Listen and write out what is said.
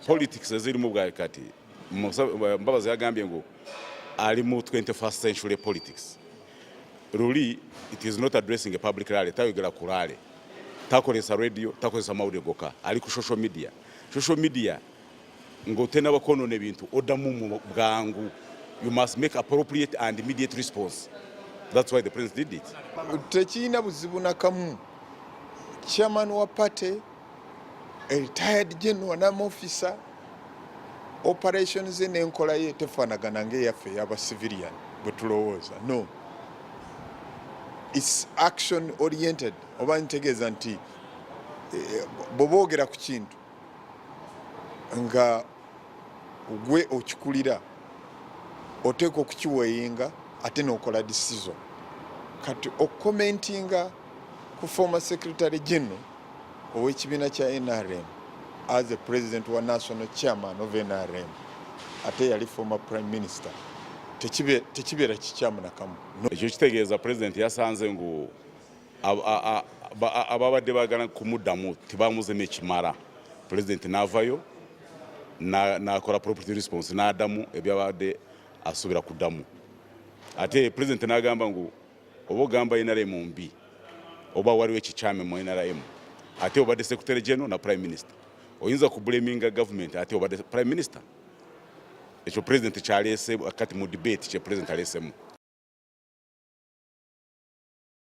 politics ezirimu bwa kati mbabazi yagambye ngu ali mu 21st century politics luli it is not addressing a public rally tayogera ku rally takozesa radio takozesa mawulire gokka ali ku social media social media ng'otenaba kwonoona ebintu oddamu mu bwangu you must make appropriate and immediate response that's why the prince did it tekirina buzibu nakamu chairman wa party a retired general nam officer operations n'enkola ye tefaanagana ng'eyaffe eyaba civilian bwe tulowooza no its action oriented oba ntegeeza nti eh, bwe boogera ku kintu nga gwe okikulira oteekwa okukiweyinga ate n'okola disizo kati okukomentinga ku former secretary general ow'ekibiina kya nrm as a president wa national chairman of nrm ate yali former prime minister tekibeera kikyamu nakamu ekyo kitegeeza president yasanze ngu ababadde bagala kumuddamu tebamuzemu ekimala pulezidenti n'avayo nakola property response n'adamu ebyabadde asuubira kuddamu ate pulezidenti n'agamba ngu oba ogamba nrm mbi oba waliwo ekikyame mu nrm ate obadde secretary general na prime minister oyinza kubulaminga gavumenti ate obadde prime minister ekyo pulezidenti kyaleese kati mu debate kye pulezidenti aleesemu